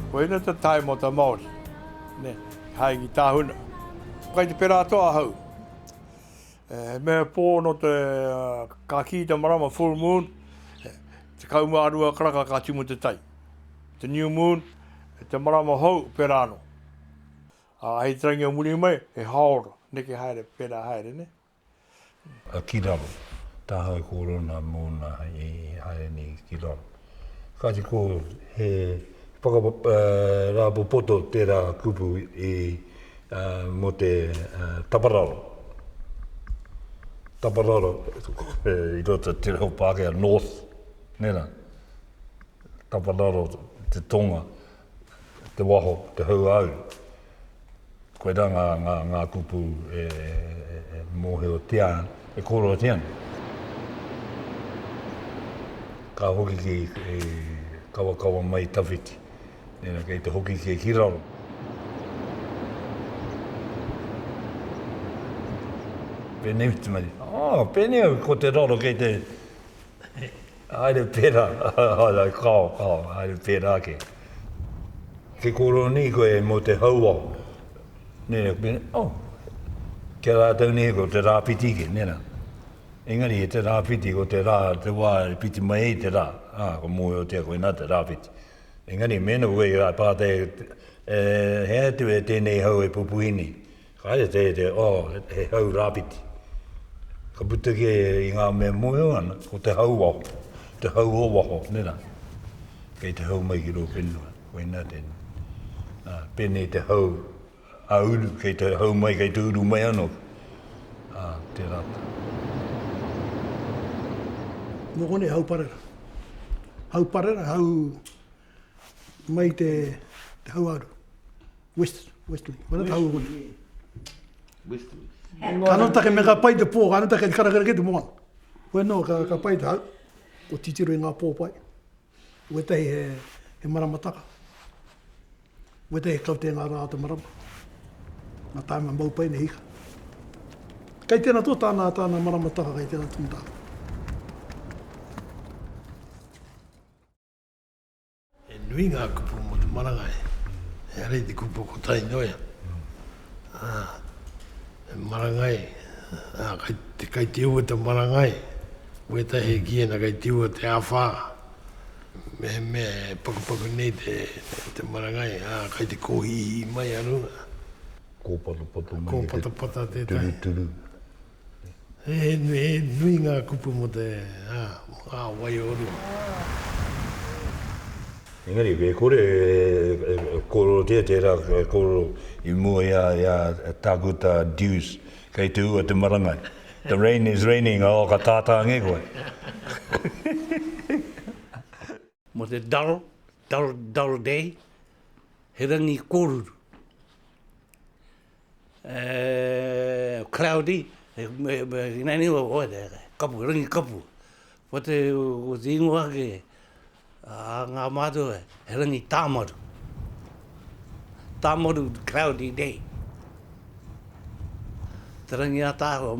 Koina te taemata Māori, ne, hai ki tāhuna. Kai te pera atoa ahau. E, he mea pō no te, uh, ka kī te marama full moon, te kaumārua karaka ka timu te tai. Te new moon, te marama hou, pera ano. Ā, hei te rangi o muri mai, he haora, neke haere, pērā haere, nē? Ā, ki raro, tāhae ko Rona mōna i haere nei ki raro. Kāti ko he whakarāpopoto tērā kupu i, ā, mō te tapararo, tapararo i roto i te reo Pākehā, north, nē rā, tapararo te tonga. te waho, te hauāuru. Koirā ngā, ngā, ngā kupu e, e, e mōhiotia, e kōrerotia ana. Ka hoki ki, e, kawakawa mai tawhiti. Nera, kei te hoki ki, ki raro. Pēnei, Whitimaria. Oh, pēnei au, ko te raro kei te, Haere pērā, haere, kao, kao, haere pērā ake. Ki kōrero nei koe mō te hauao, nē, oh, ki a rātou nei ko te rāwhiti ake, nē rā. Engari e te rāwhiti, ko te rā, te wā e whiti mai ai te rā, ā, ka mōhiotia koe nā te rāwhiti. Engari mēnā koe i pātai, e, he aha te mea tēnei hau e pupuhi nei? Kāre te te, oh, he hau rāwhiti. Ka puta ki i ngā mea mōhio ana, ko te hau waho, te hau o waho, nē rā. Kei te hau mai ki rō whenua, koinā tēnei. Ā, pēnei te hau a uru, kei te hau mai, kei te uru mai anō. Ā, tērā tā. Nō konei hau parera. Hau parera, hau. Mai te hauaru. West, Westerly. Mana te hauaru. Westerly. Ka no take me ka pai te pō, ka no take ka rakera ke te moana. Koe no, ka, ka pai te hau. Ko titiro i ngā pō pai. Wetahi he, he maramataka. Wetahi he kaute ngā rā te marama. Ngā tāima mau pai nei hika. Kei tēnā tō tāna, tāna maramataka, kei tēnā tō tāna. He nui ngā kupu mō te marangai, engari te kupu ko Tainoi, he marangai, kei te ua te marangai, wētahi ki ēnā kei te ua te āwhā, mehemea e pakupaku nei te marangai, ā, kei te kōhihī mai a runga. Kōpatapata mai te turuturu. He nui ngā kupu mō te wai o rua. Engari, e kore e kōrerotia tērā kōrero i mua i a Tākuta Dewes, kei te ua te marangai. The rain is raining, oh, ka tātāngi koe. Mō te dull, dull, dull day, he rangi kōruru. cloudy, ina niwa oe te ake, kapu, rangi kapu, ko te ingoa ake a nga matua he rangi tamaru, tamaru cloudy day, te rangi a tahua,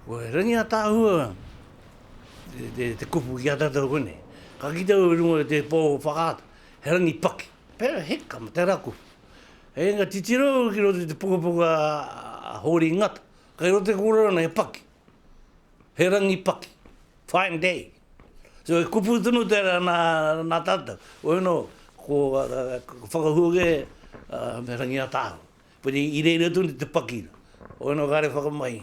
ko te rangi a tahua te kupu ki a tatou konei, ka kite au i runga i te po o whakaata he rangi paki, Pera hika me te raku. Hei nga titiro ki roto i te pukapuka a Hōri Ngata. Kai roto te kōrero ana he paki. He rangi paki. Fine day. So e kupu tonu tera na na tatou. Ueno ko whakahuoge me Rangiatāhua. Puni i reira tonu te paki. Ueno kare whakamahi.